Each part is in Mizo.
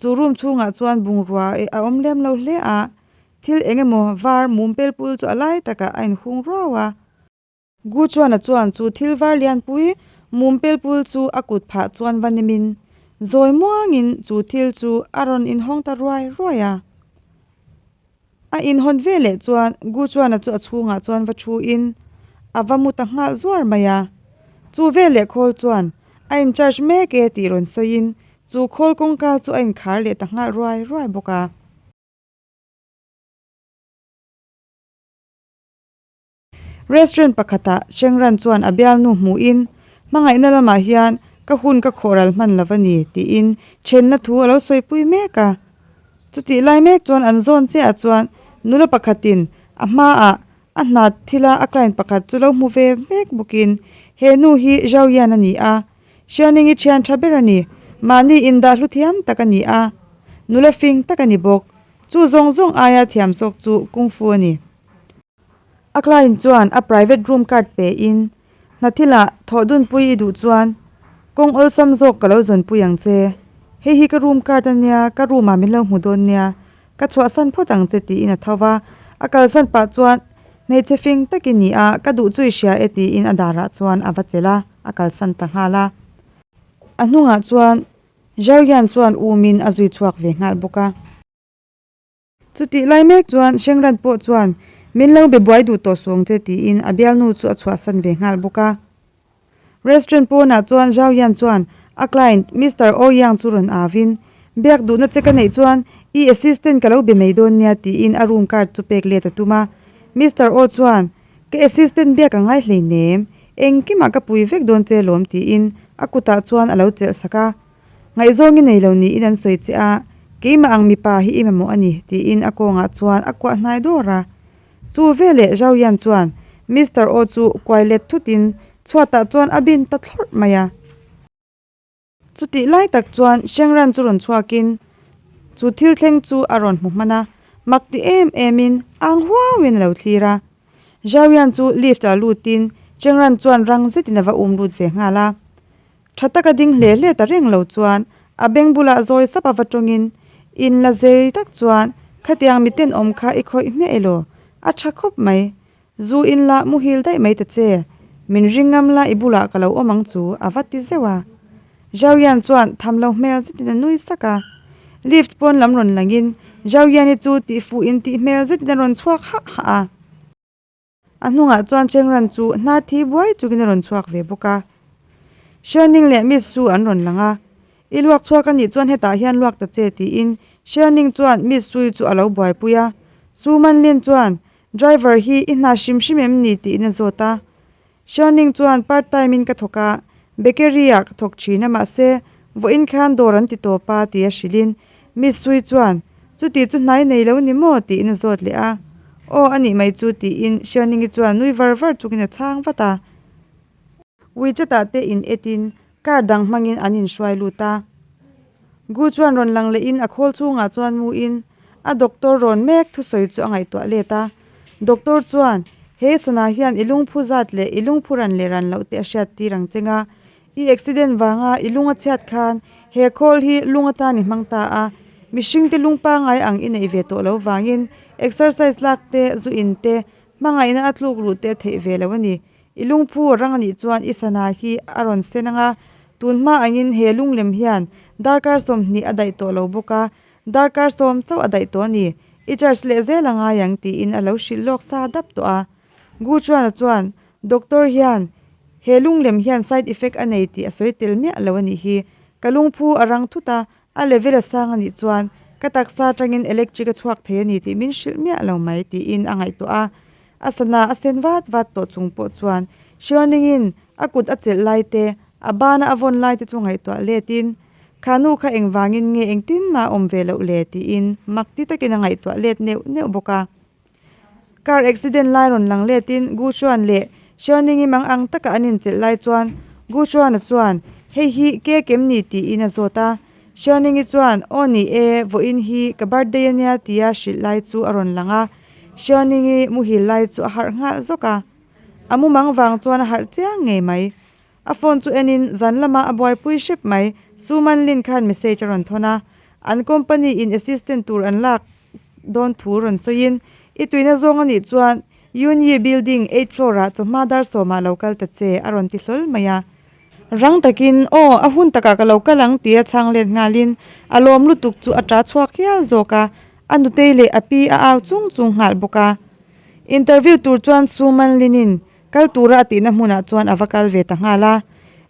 Chu room chhungah chuan bungrua ih a awm lem lo hle a, thil eng emaw var mumpel pul chu a lai takah a inhung ruau a. Gu Chuana chuan chu thil var lianpui mum pel pul chu a kut phah chuan va nem in zawi muang in chu thil chu a rawn in hawng ta ruai ruai a. A in hawn ve leh chuan Gu Chuana chu a chhung ah chuan va thu in a va mut a nghal zuar mai a. Chu vel leh khawl chuan a in charge mek e tih rawn sawi in chu khawl kawng kal chu a in khar leh ta nghal ruai ruai bawk a. Restaurant pakhatah Chengran chuan a bialnu hmuhin, Hmangaihna lamah hian ka hun ka khawhral hman lo a ni, tiin ṭhenna thu a lo sawipui mek a. Chutih lai mek chuan an zawn chiahah chuan nula pakhatin a hmaah a hnat thila a client pakhat chu lo hmu ve mek bawkin, He nu hi Zhao Yan a ni a, Xiaoning-i ṭhian ṭha ber a ni. Mahni indah hlu thiam tak a ni a, nula fing tak a ni bawk. Chu zawng zawng aia thiam zawk chu kung fu a ni. A client chuan a private room card pe in hnathila thawh dunpui i duh chuan kawng awlsam zawk ka lo zawnpui ang che. Hei hi ka room card a nia, ka room ah min lo hmu dawn nia, ka chhuahsan phawt ang che tiin a tho va. A kal zat pah chuan hmeichhe fing tak i ni a, ka duh chu i hria e tiin a dar ah chuan a va chelh a, a kal san ta nghal a. A hnungah chuan Zhao Yan chuan um in a zui chhuak ve nghal bawk a. Chu tih lai mek chuan Hrengrat pawh chuan, Min lo be buai duh tawh sawng che tiin a bialnu chu a chhuahsan ve nghal bawk a. Restaurant pawnah chuan Zhauyan chuan a client Mister Ouyang chu rawn avin, Biak duhna che ka neih chuan i assistant ka lo be mai dawn nia tiin a room card chu pek let a tum a. Mister Ou chuan, Ka assistant biak a ngai hleinem, engkimah ka pui vek dawn che lawm tiin a kutah chuan a lo chelh sak a. Ngaihzawng i nei lo niin an sawi che a, keimah ang mipa hi i mamawh a ni, tiin a kawngah chuan a kuah hnai dawr a. Chu veleh Zhao Yan chuan Mister Aw chu kuai let thutin chhuatah chuan a bin ta thlawrh mai a. Chutih lai tak chuan Shengran chu rawn chhuakin chu thil thleng chu a rawn hmu hman a, mak ti em emin ang huauin a lo thlir a. Zhao Yan chu lift-ah lutin Shengran chuan rang zetin a va um lut ve nghal a. Tha taka ding hle hle ta reng lo chuan a beng bulah zawi sapa va tawngin, In la zei tak chuan khatiang miten awm kha i khawih hmeh ilo, a tha khawp mai. Zu in lah muhil daih mai ta che, min ring ngam la i bulah ka lo awm ang chu a va ti zeuh a. Zhauyan chuan tham lo hmel zetin a nui sak a. Lift pawn lam rawn langin Zhauyan-i chu tihfuh in tih hmel zetin a rawn chhuak hah hah a. A hnungah chuan Chengran chu hna thi buai chukin a rawn chhuak ve bawk a, Sherning leh Miss Su an rawn lang a, I luak chhuak a nih chuan hetah hian luak ta che tiin Sherning chuan Miss Su-i chu a lo buaipui a, Su Manlin chuan Driver hi i hna hrim hrim em ni tiin a zawt a, Sherning chuan Part time in ka thawk a, Bakery-ah ka thawk thin a mahse vawiin khan dawr an ti tawp a tia hrilhin, Misui chuan, Chutih chu hnai nei lo ni maw? Tiin a zawt leh a. Aw, a nih mai chu, tiin Shianingi chuan nui var var chukin a chhang vat a. Wechat ah te in etin car dang hmangin an in hruai lut a. Gu chuan rawn lang lehin a khawl chhungah chuan mu in a doctor rawn mek thusawi chu a ngaihtuah let a. Doctor chuan, He sana hian i lungphu zat leh i lungphu ran leh ran loh te a hriat tir ang cheng a. I accident vanga i lung a chhiat khan he call hi lung atan i hmang ta a, mihring te lung pangai ang i neih ve tawh lo vangin exercise lak te, zu in te, hmangaihna a tluk ruh te theih ve lo a ni. I lungphu a rang a nih chuan i sana hi a rawn sen ang a, tun hma angin he lunglem hian darkar sawmhnih a daih tawh lo bawk a, darkar sawm chauh a daih tawh a ni. I church leh zel a ngai ang tiin a lo hrilh lawk sa dap tawh a. Gu Chuana chuan, Doctor hian he lunglem hian side effect a nei tih a sawi tel miah lo a nih hi. Ka lungphu a rang thut a, a level a sang a nih chuan ka taksa atangin electric a chhuak thei a ni tih min hrilh miah lo mai tiin a ngaihtuah a. A sana a sen vat vat tawh chung pawh chuan Hrianingin a kut a chelh lai te, a bana a vawn lai te chu ngaihtuah letin Khanu kha engvangin nge engtin mah a awm ve loh le tiin makti takin a ngaihtuah let neuh neuh bawk a. Car accident lai rawn lang letin Gu Xuan leh Hriauningim ang ang taka an inchelh lai chuan Gu Xuana chuan Hei hi cake em ni tiin a zawt a, Hriauningi chuan Aw ni e, vawiin hi ka birthday a nia tia hrilh lai chu a rawn lang a. Hriauningi muhil lai chu a harh nghal zawk a, a mu mang vang chuan a harh chiang ngei mai. A phone chu enin zan lama a buaipui hrep mai. Su Manlin khan message a rawn thawn a, an company in assistant tur an lak dawn thu rawn sawiin i tuihna zawng a nih chuan Yunyee building eight floor ah chawhma dar sawmah lo kal ta che a rawn ti hlawl mai a. Rang takin, Aw, a hun takah ka lo kal ang, ti a chhang let nghalin a lawm lutuk chu a ṭa chhuak hial zawk a, a nutei leh a pi a au chung chung nghal bawk a. Interview tur chuan Suman Linin Kal tura a tihna hmunah chuan a va kal ve ta nghal a.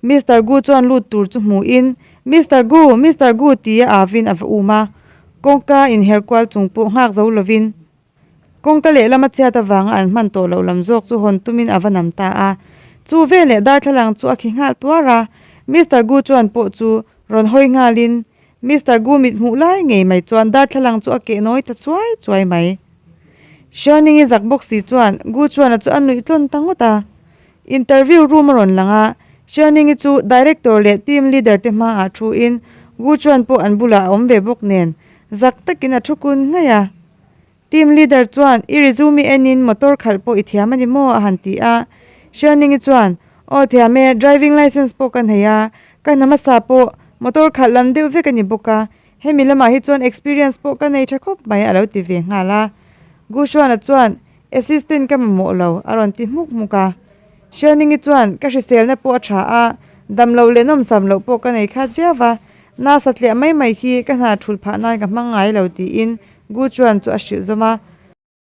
Mister Gu chuan lut tur chu hmuhin, Mister Gu! Mister Gu! ti a avin a va um a, kawngka inher kual chung pawh nghak zo lovin kawngka lehlam a chhiat avanga an hman tawh loh lam zawk chu hawn tumin a va nam ta a. Chu vel leh darthlalang chu a khi nghal tuar a. Mister Gu chuan pawh chu rawn hawi nghalin Mister Gumit hmuh lai ngei mai chuan darthlalang chu a keh nawi ta chuai chuai mai. Sherning i zak bawk si chuan Gu Chuana chu a nuih tlawn ta ngawt a. Interview room a rawn lang a, Sherning i chu Director leh Team Leader te hma ah thu in Gu Chuan pawh an bulah a awm ve bawk nen zak tak in a thu kun ngei a. Team leader chuan, I resume i en in motor khalh pawh i thiam a ni maw? a han ti a. Hrianingi chuan, Aw thiam e, driving licence pawh ka hnaih a, ka hna hmasa pawh motor khalh lam deuh vek a ni bawk a, hemi lamah hi chuan experience pawh ka nei tha khawp mai a lo ti ve nghal a. Gu Shuana chuan, Assistant ka mamawh lo, a rawn ti hmuk hmuk a. Hrianingi chuan ka hriselna pawh a tha a, damlo leh nawmsam loh pawh ka nei khat viau va, nasa tliah mai mai hi ka hna thul phah nan ka hmang ngai lo tiin Gu Chuan chu a hrilh zawm a.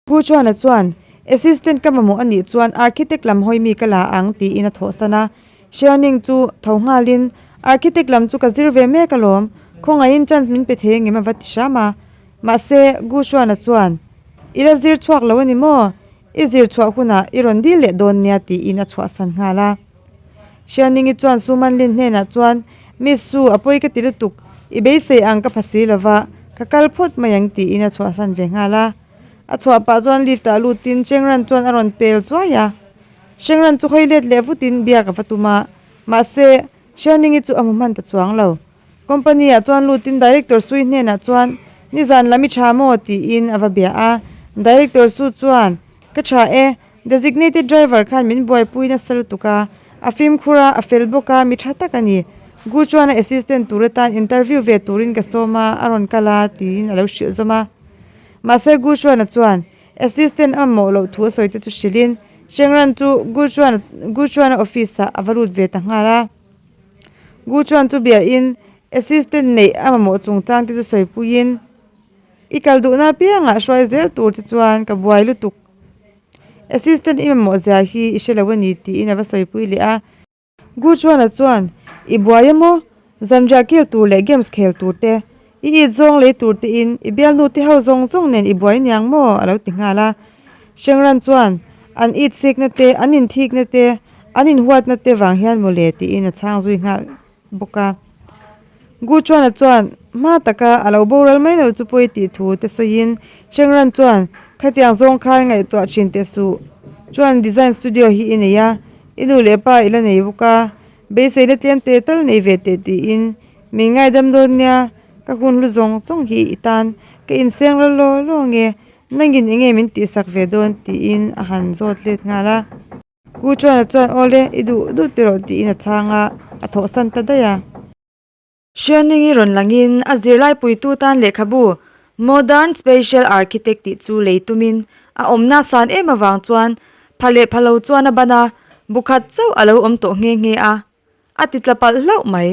Gu Chuan-a chuan, Assistant ka mamawh anih chuan Architect lam hawi mi ka la ang tiin a thawhsan a. Hrianing chu tho nghalin, Architect lam chu ka zir ve mek alawm, khawngaihin chance min pe thei angem a va ti hram a. Mahse, Gu Chuan-a chuan, I la zir chhuak lo a ni maw? I zir chhuah hunah i rawn dil leh dawn nia tiin a chhuahsan nghal a. Hrianingi chuan Su Man Lin hnenah chuan, Miss Su, a pawi ka ti lutuk, i beisei ang ka pha si lo va, ka kal phawt mai ang tiin a chhuahsan ve nghal a. A chhuah pah chuan lift ah lutin Cheng Ran chuan a rawn pel zuai a. Cheng Ran chu hawi let leh vutin biak a va tum a, mahse, Hrianingi chu a hmu hman ta chuang lo. Company ah chuan lut in Director Sui hnen ah chuan nizan la mi tha maw tiin a va bia a, Director Su chuan ka tha e, Designated Driver khan min buaipui nasa lutuk a, a fimkhur a, a fel bawk a, mi tha tak a ni. Gu chuan a Assistant tur atan Interview ve tur in ka sawm a, a rawn kal a tiin a lo hrilh zawm a. Mahse Gu Suana chuan Assistant a mamawh loh thu a sawi te chu hrilh in Shengran chu Gu Suana Gu Suana Office ah a va lut ve ta nghal a. Gu chuan chu biahin assistant neih a mamawh chungchang te chu sawipuiin, I kal duhna apiangah hruai zel tur te chuan ka buai lutuk. Assistant i mamawh zia hi i hre lo a ni tiin a va sawipui leh a. Gu chuana chuan, I buaia maw? Zanriah kil tur leh games khel tur te I it zawng lei tur tein i bialnu te ho zawng zawng nen i buai niang maw? a lo ti nghal a. Shengran chuan an it sikna te, an inthikna te, an inhuatna te vang hian maw le tiin a chhang zui nghal bawk a. Guchuana chuan hma taka a lo boral mai lo chu pawi tih thu te sawiin Shengran chuan, Khatiang zawng khan ngaihtuah thin teh suh chuan design studio hi i nei a, i nu leh pa i la nei bawk a, Beiseina tlian te tal nei ve teh tiin min ngaidam dawn nia, ka hun hlu zawng zawng hi i tan ka inseng ral law law nge, nangin enge min tihsak ve dawn tiin a han zawt let nghal a. Pu Chuana chuan aw le, i duh duh teh rawh tiin a chhang a, a thawhsan ta daih a. Hrianingi rawn langin a zirlaipui tu tan lehkhabu Modern Spatial Architect tih chu lei tumin a awm nasan em avang chuan pha leh pha lo chuan a ban a, bukhat chauh a lo awm tawh nghe nghe a, a ti tla palh hlauh mai.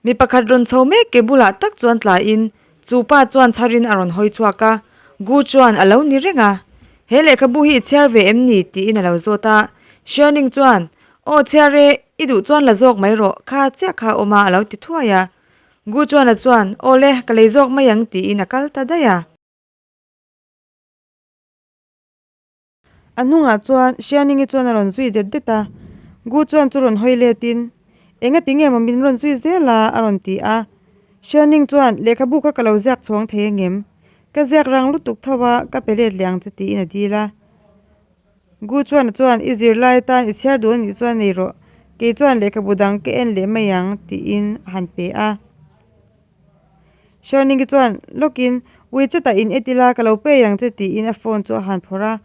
Mi pakhat rawn chho mek ke bulah tak chuan tlaiin Chu pa chuan chhar in a rawn hawi chhuak a, Gu chuan a lo ni reng a, He lehkhabu hi i chhiar ve em ni? tiin a lo zawt a, Sherning chuan, Aw chhiar e, i duh chuan la zawk mai rawh, kha chiah kha a awm a, a lo ti thuai a. Gu chuan a chuan, Aw le, ka lei zawk mai ang tiin a kal ta daih a. A hnungah chuan Hrianingi chuan a rawn zui det det a, Gu chuan chu rawn hawi let in, Enga ti nge maw min rawn zui zel a? a rawn ti a. Hrianing chuan, Lehkhabu kha ka lo ziak chhuang thei angem? Ka ziak rang lutuk tho a, ka pe let leh ang che tiin a dil a. Gu chuan chuan, I zirlai atan i chhiar duh a nih chuan nei rawh, kei chuan lehkhabu dang ka en leh mai ang tiin a han pe a. Sherning-i chuan lawkin, Ui che tah in et ila, ka lo pei ang che tiin a phone chu a han phawrh a.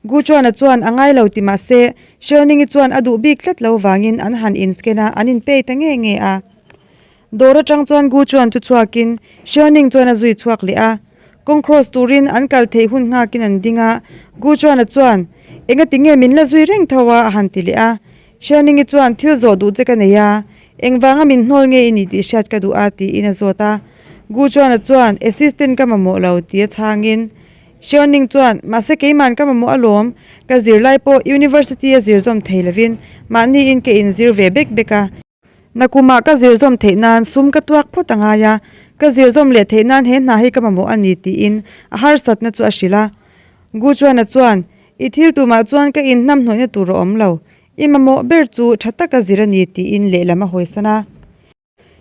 Guchuana chuan a ngai lo ti mah se, Sherning-i chuan a duh bik tlat lo vangin an han in scan a, an in pei ta nge nge a. Dawr atang chuan Guchuan thu chhuakin, Sherning chuan a zui chhuak leh a. Kawng cross turin an kal theih hun nghakin an ding a, Guchuana chuan, Engatinge min la zui reng tho a, a han ti leh a. Hrianingi chuan, Thil zawh duh che ka nei a, engvanga min hnawl nge i nih tih hriat ka duh a, tiin a zawt a. Gu Chuana chuan, Assistant ka mamawh lo, ti a chhangin, Hrianing chuan, Mahse keiman ka mamawh alawm, ka zir lai pawh University a zir zawm thei lovin, mahniin ka inzir ve bek bek a. Nakumah ka zir zawm theih nan sum ka tuak phawt a ngai a, ka zir zawm leh theih nan he hna hi ka mamawh a ni, tiin a harsatna chu a hrilh a. Gu Chuana chuan, I thil tumah chuan ka inhnamhnawihna tur a awm lo. I mamawh ber chu tha tak a zir a ni tiin lehlam a hawisan a.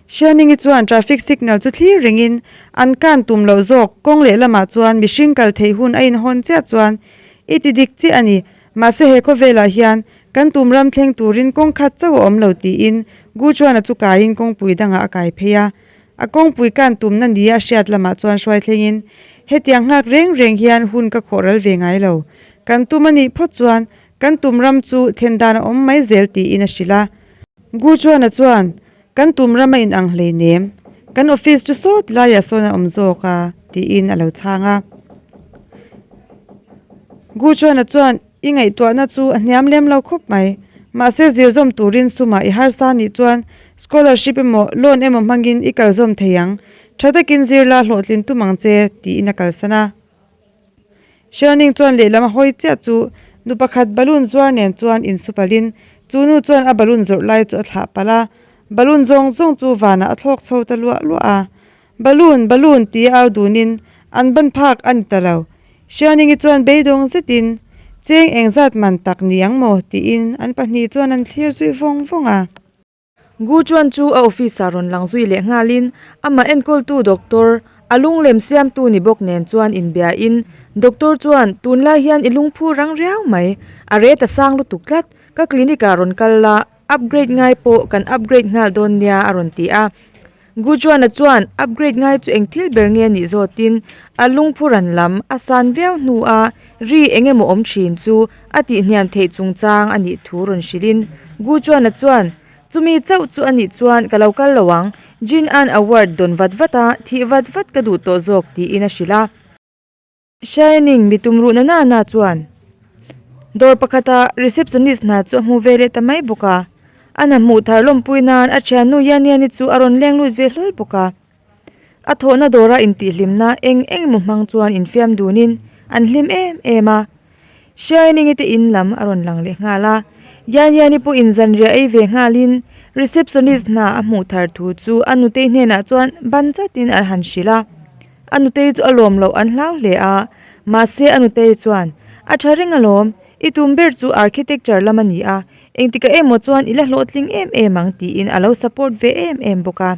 Hrianingi chuan traffic signal chu thlir rengin an kan tum loh zawk. Kawng leh lamah chuan mihring kal theih hun a inhawn chiah chuan i ti dik chiah a ni. Mahse he khawvelah hian kan tum ram thleng turin kawng khat chauh a awm lo tiin Gu Chuana chu kaiin kawngpui dangah a kai phei a. A kawngpui kan tumna nia a hriat lamah chuan hruai thlengin, Hetiang nghak reng reng hian hun ka khawh ral ve ngai lo. Kan tum a nih phawt chuan kan tum ram chu then dan a awm mai zel tiin a hrilh a. Guchuana chuan, Kan tum ram a inang hleinem. Kan office chu sawt laiah sawn a awm zawk a, tiin a lo chhang a. Guchuana chuan. I ngaihtuahna chu a hniam lem lo khawp mai. Mahse, zir zawm turin sumah i harsa a nih chuan scholarship emaw loan emaw hmangin i kalzawm thei ang. Tha takin zirla hlawhtlin tum ang che, tiin a kalsan a. Sherning chuan lehlam a hawi chiah chu nu pakhat balloon zuar nen chuan insu palhin chu nu chuan a balloon zawrh lai chu a thlah palh a. Balloon zawng zawng chu vanah a thlawk chho ta luah luah a. Balloon, Balloon ti au dunin an ban phak a ni ta lo. Hrianingi chuan beidawng zetin, Cheng eng zat man tak ni ang maw? tiin an pahnih chuan an thlir zui vawng vawng a. Gu chuan chu a office ah rawn lang zui leh nghalin, Ama enkawltu doctor, a lunglem siamtu ni bawk nen chuan inbia in, Doctor chuan, Tunlai hian i lungphur rang riau mai. A re ta sang lutuk tlat. Ka clinic ah rawn kal la. Upgrade ngai pawh kan upgrade nghal dawn nia a rawn ti a. Gujuana chuan upgrade ngai chu eng thil ber nge a nih zawtin a lungphu ran lam a san viau hnu a ri eng emaw awm thin chu a tihniam theih chungchang a nih thu rawn hrilhin Gujuana chuan Chumi chauh chu a nih chuan ka lo kal lo ang, Jin-an a word dawn vat vat a, thih vat vat ka duh tawh zawk tiin a hrilh a. Shining mi tumruhna nana chuan dawr pakhata receptionist hna chu a hmu ve leh ta mai bawk a, an a hmuh thar lawmpui nan a thiannu Yaniani chu a rawn leng lut ve hlawl bawk a. A thawhna dawra intihhlimna eng eng emaw hmang chuan infiam dunin an hlim em em a. Shining-i te in lam a rawn lang leh nghal a, Yanyani pawh in zanriah ei ve nghalin receptionist hna a hmuh thar thu chu a nutei hnenah chuan ban chatin a han hrilh a. A nutei chu a lawm loh an hlau hle a, mahse a nutei chuan, A tha reng alawm, i tum ber chu architecture lam a ni a, engtikah emaw chuan i la hlawhtling em em ang tiin a lo support ve em em bawk a.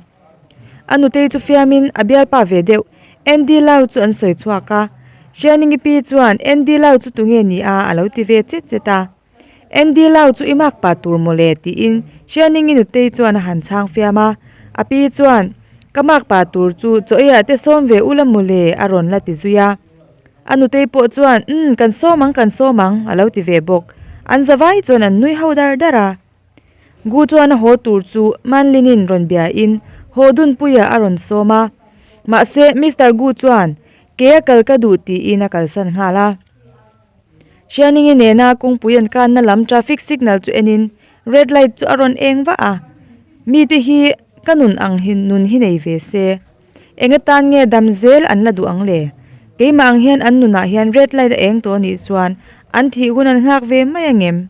A nutei chu fiamin a bialpa ve deuh. Andy Lau chu an sawi chhuak a, Hrianingipi chuan Andy Lau chu tunge ni a a lo ti ve chet chet a. Andy Lau chu i nghakpa tur maw le tiin Hrianingi nutei chuan a han chhang fiam a. A pi chuan, Ka nghakpa tur chu Chawiah te sawm ve ula maw le a rawn la ti zui a. A nutei pawh chuan, Um, kan sawm ang, kan sawm ang a lo ti ve bawk. An zavai chuan an nui ho dar dar a. Gu chuan a haw tur chu Manlinin rawn biain haw dunpuia a rawn sawm a. Mahse, Mister Gu chuan, Kei a kal ka duh tiin a kalsan nghal a. Hrianingi nena kawngpui an kanna lam traffic signal chu enin red light chu a rawn eng vah a. Mite hi ka nun ang hi nun hi nei ve se. Enge tan nge dam zel an la duh ang le? Keimah ang hian an nunah hian red light a eng tawh anih chuan an thih hun an nghak ve mai angem?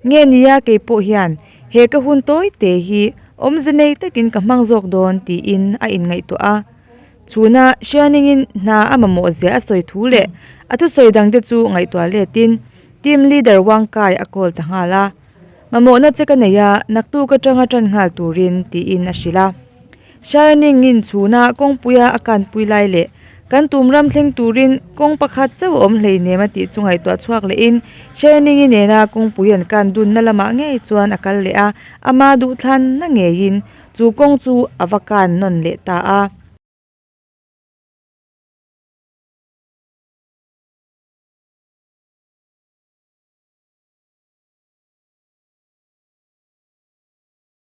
Nge nia kei pawh hian he ka hun tawi te hi awmze nei takin ka hmang zawk dawn tiin a inngaihtuah a. Chhuna Shianingin hna a mamawh zia a sawi thu leh a thusawi dang te chu ngaihtuah letin team leader Wangkai a call ta nghal a, Mamawhna che ka nei a, naktuk atanga tan nghal turin tiin a hrilh a. Shining in chhuna kawngpuia a kanpui lai leh kan tum ram thleng turin kawng pakhat chauh awm hleinem a tih chu ngaihtuah chhuak leh in Shining i nena kawngpui an kan dunna lamah ngei chuan a kal leh a, ama duhthlanna ngeiin chu kawng chu a va kan nawn leh ta a.